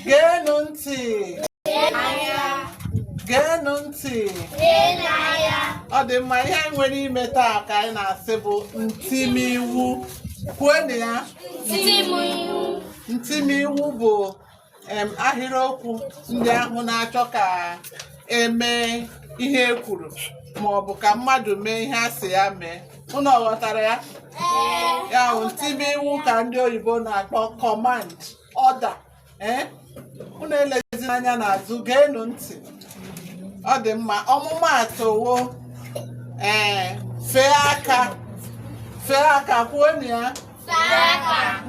geenụ ntị geenụ ntị ọ dị mma ihe anyị nwere ime taa ka anyị na-asị bụ ntimiwu kwuonụ ya ntimiwu bụ em, ahịrịokwu ndị ahụ na-achọ ka e mee ihe e kwuru ma ọ bụ ka mmadụ mee ihe a sị ya mee unu ọ ghọtara ya ya bụ ntimiwu ka ndị oyibo na-akpọ command order ee unu elezina anya n'azụ geenụ ntị ọ dị mma ọmụmaatụ wụ ee fee aka fee aka kwuonụ ya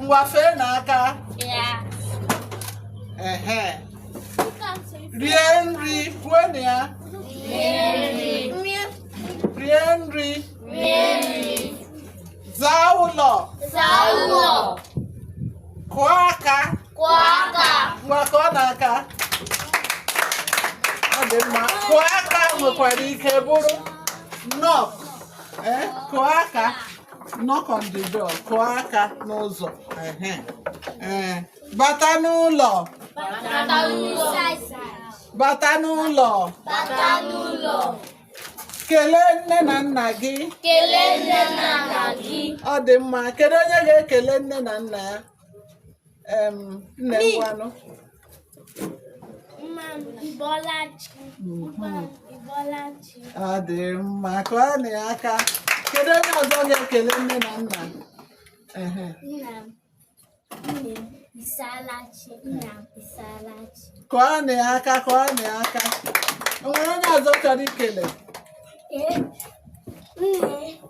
ngwa feenụ aka ehe rie nri kwuonụ ya rie nri zaa ụlọ kụọ aka ngwa kụọnụ aka ọ dị mma kụọ aka nwekwara ike bụrụ knock ee kụọ aka knock on the door kụọ aka n'ụzọ ehe ee bata n'ụlọ bata n'ụlọ kelee nne na nna gị kelee nne na nna gị ọ dị mma kedu onye ga-ekele nne na nna ya nne ngwanụ ọ dị mma kụọnụ ya aka kedu onye ọzọ ga-ekele nne na nna kụọnụ ya aka kụọnụ ya aka o nwere onye ọzọ chọrọ ikele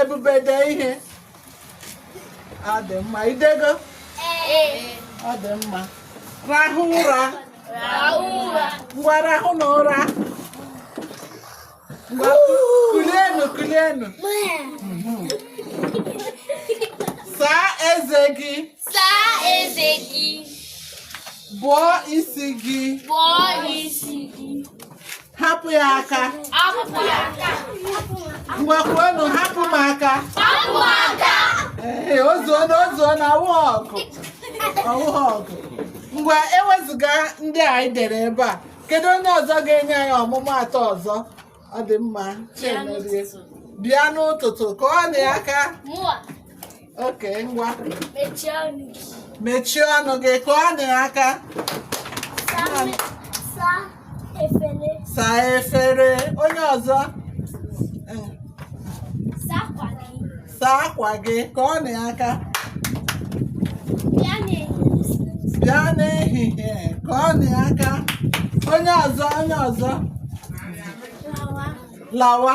ebube dee ihe ọ dị mma i dego ọ dị mma rahụ ụra ngwa rahụnụ ụra ngwa kulienu kulienu saa eze gị Saa eze gị, bọọ isi gị bọọ isi gị, hapụ ya aka ngwa kwuonụ hapụ m aka ee ozuola ozuola ọ wụ ọgụ ọ wụ ọgụ ngwa ewezụga ndị a anyị dere ebe a kedu onye ọzọ ga-enye anyị ọmụmaatụ ọzọ ọ dị mma Chiemerie. bịa n'ụtụtụ kụọnụ ya aka oke ngwa mechie ọnụ gị mechie ọnụ gị kụọnụ ya aka saa mi- saa efere saa efere onye ọzọ Eh, saa akwa gị saa akwa gị kụọnụ ya aka bịa n'ehihie bịa n'ehihie kụọnụ ya aka onye ọzọ onye ọzọ lawa lawa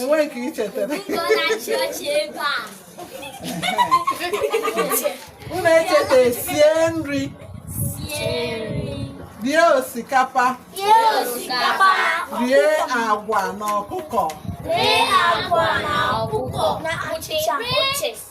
enweghị ka i chetara unu echeta sie nri rie osikapa rie agwa na ọkụkọ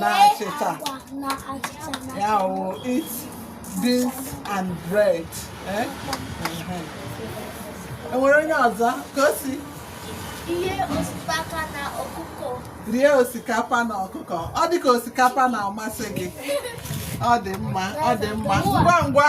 na achịcha ya wụ eat beans and bread eh? enwere onye ọzọ ka o si rie osikapa na ọkụkọ rie osikapa na ọkụkọ ọ dị ka osikapa na-amasị gị ọ dị mma ọ dị mma ngwa ngwa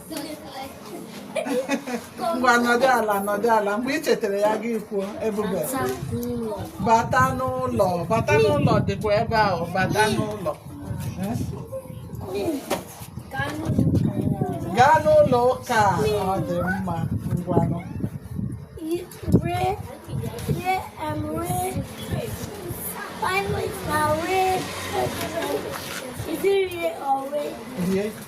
ngwa nọdụ ala nọdụ ala mgbe ị chetara ya gị kwuo ebube bata n'ụlọ bata n'ụlọ dịkwa ebe ahụ bata n'ụlọ Eh? gaa n'ụlọ ụka a, ọ dị mma ngwanụ Finally, my way. Is it real or way? rie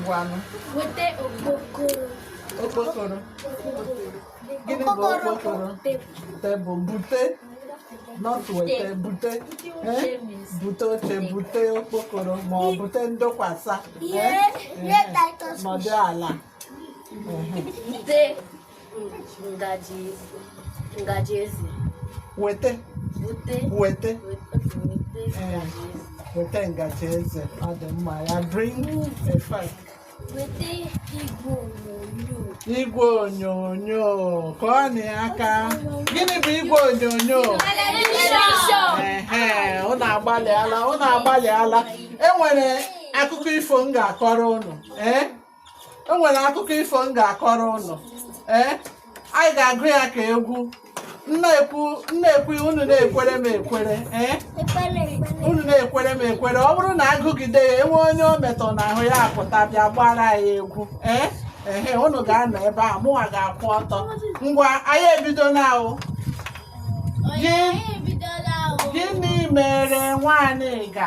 ngwanụ weta okpokoro okpokoro gịnị bụ okpokoro tebụl bute not weta bute eh? bute oche bute okpokoro ma ọ bute ndokwasa eh? Eh? nọdụ ala ngaji ngaji eze weta bute weta weta ngaji eze ọ dị mma ya bring a fork weta igwe onyonyo igwe onyonyo kụọnụ ya aka gịnị bụ igwe onyonyo ee ụnụ agbalịala ụnụ agbalịala enwere akụkọ ifo m ga-akọrọ ụnụ ee o nwere akụkọ ifo m ga-akọrọ ụnụ ee anyị ga-agụ ya ka egwu m na-ekwu m na-ekwu unu na-ekwere m ekwere ee unu na-ekwere m ekwere ọ bụrụ na a gụgide ya e nwee onye o metụ n'ahụ ya apụta bịa gbaara anyị egwu ee ehe unu ga-anọ ebe a mụnwa ga-akwụ ọtọ ngwa anyị ebido na-agụ gịnị mere Nwaniga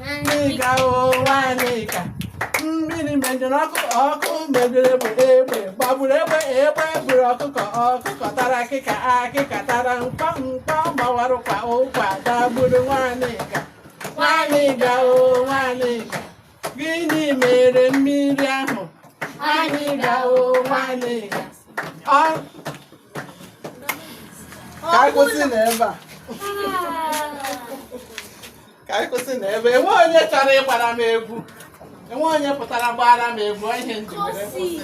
Nwanịga o Nwanịga mmiri menyụrụ ọkụ ọkụ rejiri egbe egbe gbagburu egbe egbe buru ọkụkọ ọkụkọ tara akịka akịka tara mkpọ mkpọ gbawara ụkwa ụkwa dagburu Nwanịga Nwanịga o Nwanịga gịnị mere mmiri ahụ Nwanịga o Nwanịga ọ ka anyị kwụsị na ebe a ka anyị kwụsị na ebe enwe onye chọrọ ịgbara m egwu enwe onye pụtara gbara m egwu ọ ihe m ji were kwụsị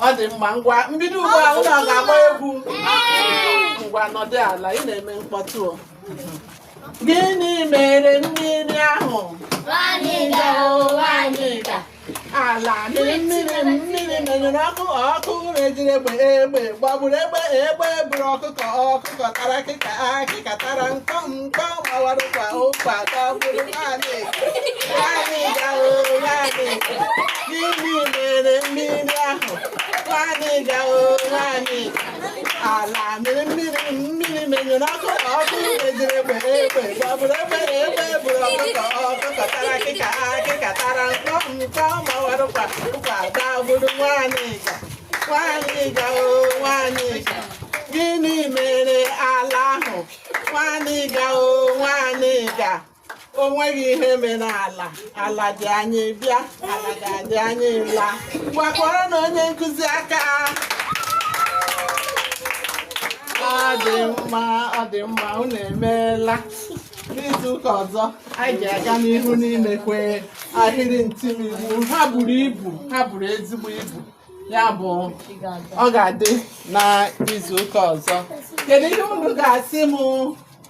ọ dị mma ngwa m bido ugbu a unu ga-agba egwu ngwa nọdụ ala ị na-eme mkpọtụ o. gịnị mere mmiri ahụ Nwanịga o Nwanịga, ala mịrị mmiri mmiri menyụrụ ọkụ ọkụ rejiri egbe egbe gbagburu egbe egbe buru ọkụkọ ọkụkọ tara akịka akịka tara nkọ nkọ gbawara ụkwa ụkwa dagburu Nwanịga Nwanịga o Nwanịga gịnị mere mmiri ahụ Nwanịga o Nwanịga ala mịrị mmiri mmiri menyụrụ ọkụ ọkụ rejiri egbe egbe gbagburu egbe egbe buru ọkụkọ ọkụkọ tara akịka akịka tara nkọ nkọ mawara ụkwa ụkwa dagburu Nwanịga Nwanịga o Nwanịga gịnị mere ala ahụ Nwanịga o Nwanịga o nweghị ihe mere ala ala dị anyị bịa ala ga-adị anyị la kụkwaranụ onye nkụzi aka ọ dị mma ọ dị mma unu emeela n'izu ụka ọzọ anyị ga-aga n'ihu n'imekwu ahịrị ntimiwu ha buru ibu ha buru ezigbo ibu ya bụ ọ ga-adị n'izu ụka ọzọ kedu ihe unu ga-asị m